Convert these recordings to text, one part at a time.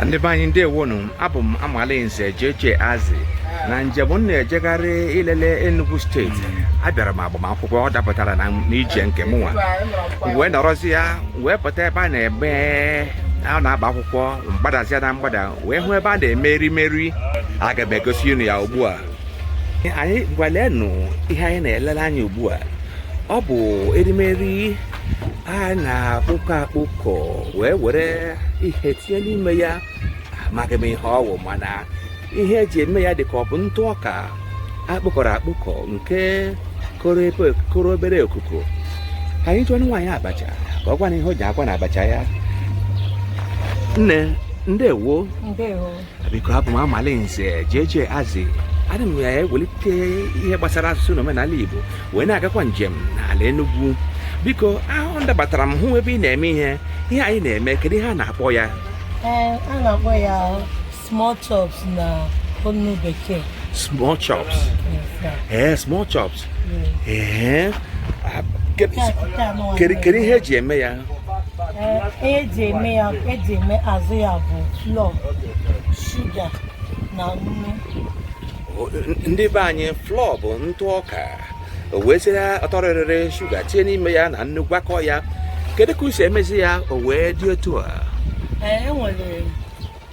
ndị be anyị ndewonu abụ m amalinze JJ Azị na njem m na-ejegharị ilele Enugu steeti abịara m agbamakwụkwọ ọ dapụtara na n'ije nke mụnwa wee nọrọzia wee pụta ebe a na-eme a na-agba akwụkwọ m gbadazia na mgbada wee hụ ebe a na-eme erimeri aga m egosi unu ya ugbu a ngwa lenụ ihe anyị na-elele anya ugbu a ọ bụ erimeri a na-akpụkọ akpụkọ wee were ihe tinye n'ime ya amaghị m ihe ọ wụ mana ihe e ji eme ya dị ka ọ bụ ntụ ọka a kpụkọrọ akpụkọ nke koro obere okuko ka anyị jụọ nwaanyị abacha ka ọ gwa anyị ihe o ji akwa na abacha ya nne ndewo biko abụ m amalinze JJ Azị ana m ewelite ihe gbasara asụsụ na omenala Igbo wee na-agakwa njem n'ala Enugwu biko ahụ m dabatara m hụ ebe ị na-eme ihe ihe a ị na-eme kedu ihe a na-akpọ ya ee a na-akpọ ya small chops n'onu bekee small chops Yes, sir. ee small chops ee ah, kedu Nke a- nke a nụwa kedu- kedu ihe e ji eme ya Ee, ihe e ji eme ya e ji eme azụ ya bụ flọ shuga na nnu O- n- ndị be anyị flọ bụ ntụ ọka o weziri ọtọrịrịrị shuga tinye n'ime ya na nnu gwakọ ya kedu ka unu si emezi ya o wee dị otu a Ee, e nwere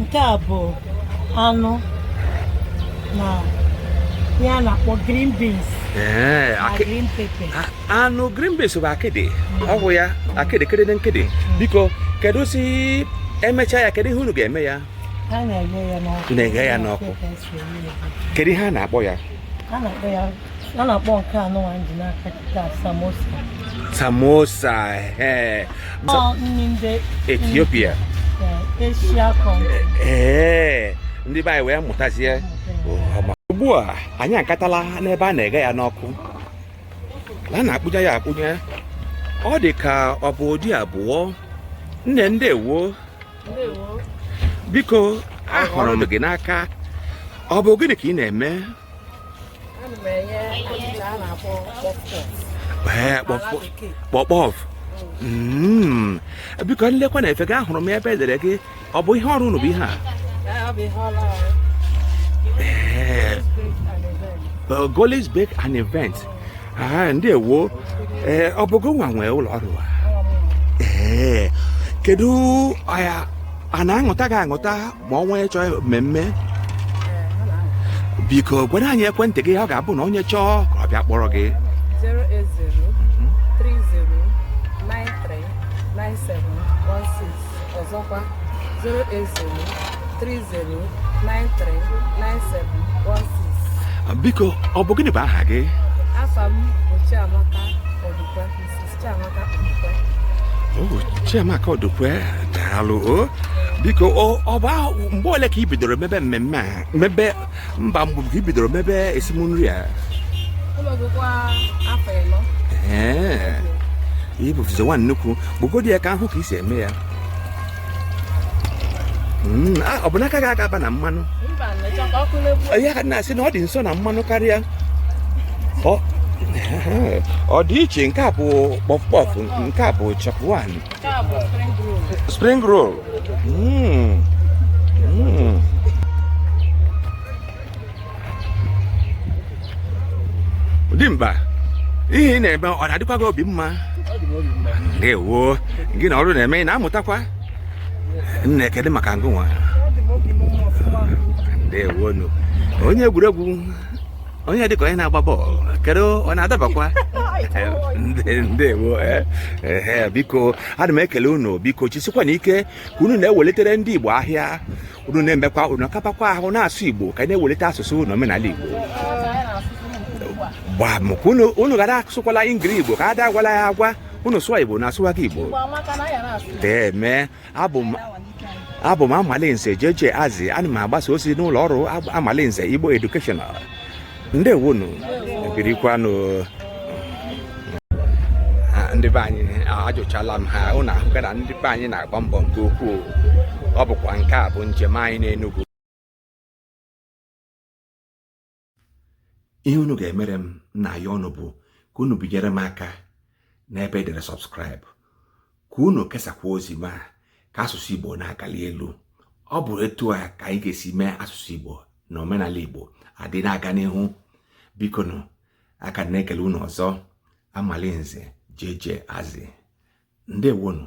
nke a bụ anụ na ihe a na-akpọ green beans Ee, na akị- green pepper a- anụ green beans bụ akịdị ọ bụ ya akịdị kedede nkịdị biko keduzi e mechaa ya kedu ihe unu ga-eme ya a na-eghe ya n'ọkụ Na-eghe ya n'ọkụ. Pepper so ya. kedu ihe a na-akpọ ya a na-akpọ ya a na-akpọ nke a nụwa m ji n'aka kịta samosa samosa ee nri ndị Ethiopia Asia ee ndị be anyị wee mụtazie ugbu a anyị agatala n'ebe a na-eghe ya n'ọkụ a na-akpụnye ya akpụnye ọ dị ka ọ bụ ụdị abụọ nne ndewo biko ahụrụ m gị n'aka ọ bụ gịnị ka ị na-eme puff puff hmm. biko m lekwa n'efe gị ahụrụ m ebe e dere gị ọ bụ ihe ọrụ unu bụ ihe a Golis Bake and Event ah, ndewo eh, ọ bụ gịnwa nwe ụlọ ọrụ a ee eh, kedu a na-aṅụta gị aṅụta ma ọ nwee chọọ mmemme biko gwara anyị ekwentị gị ọ ga-abụ na onye chọọ ka ọ bịa kpọrọ gị 08030939716 ọzọkwa 08030939716 biko ọ bụ gịnị bụ aha gị afa m bụ Chiamaka Odukwe Chiamaka Odukwe daalụ o biko ọ bụ mgbe ole ka ị bidoro mebe mmemme a mebe mba mgbe ka ị bidoro mebe esim nri a ee ị bụzi nwa nnukwu bụgodi ya ka a hụ ka ị si eme ya hmm, ah, ọ bụ na aka gị aga-aba na mmanụ ya ka na-asị na ọ dị nso na mmanụ karịa ọ dị iche nke a bụ kpọf kpọf nke a bụ chapwan spring roll hmm. Hmm. dimkpa ihe ị na-eme ọ na-adịkwa gị obi mma ndewo gị na ọrụ na-eme ị na-amụtakwa nne kedu maka ngụ nwa ndewo nu onye egwuregwu onye dịka onye na-agba bọọlụ kedu ọ na-adabakwa ndewo eh, eh, eh, biko ana m ekele unu biko jisikwanụ ike ka unu na-ewelitere ndị Igbo ahịa unu na-emekwa unu akabakwa ahụ na-asụ Igbo ka anyị na-ewelite asụsụ na omenala Igbo gbam ka unu ghara asụkwala ingiri Igbo ka a da agwala ya agwa unu sụọ Igbo na-asụwa gị Igbo deme abụ m abụ m Amalinze JJ Azị ana m agbasa ozi n'ụlọ ọrụ Amalinze Igbo Educational ndewonu birikwanụ ndị be anyị ajụchala m ha ụnụ ahụgo na ndị be anyị na-agba mbọ nke ukwuu ọ bụkwa nke a bụ njem anyị n'Enugu ihe unu ga-emere m na ya ọnụ bụ ka unu binyere m aka n'ebe e dere subscribe ka unu kesakwa ozi m a ka asụsụ Igbo na-agali elu ọ bụrụ etu a ka anyị ga-esi mee asụsụ Igbo na omenala Igbo adị na-aga n'ihu biko nụ aka m na-ekele unu ọzọ Amalinze JJ Azị ndewonu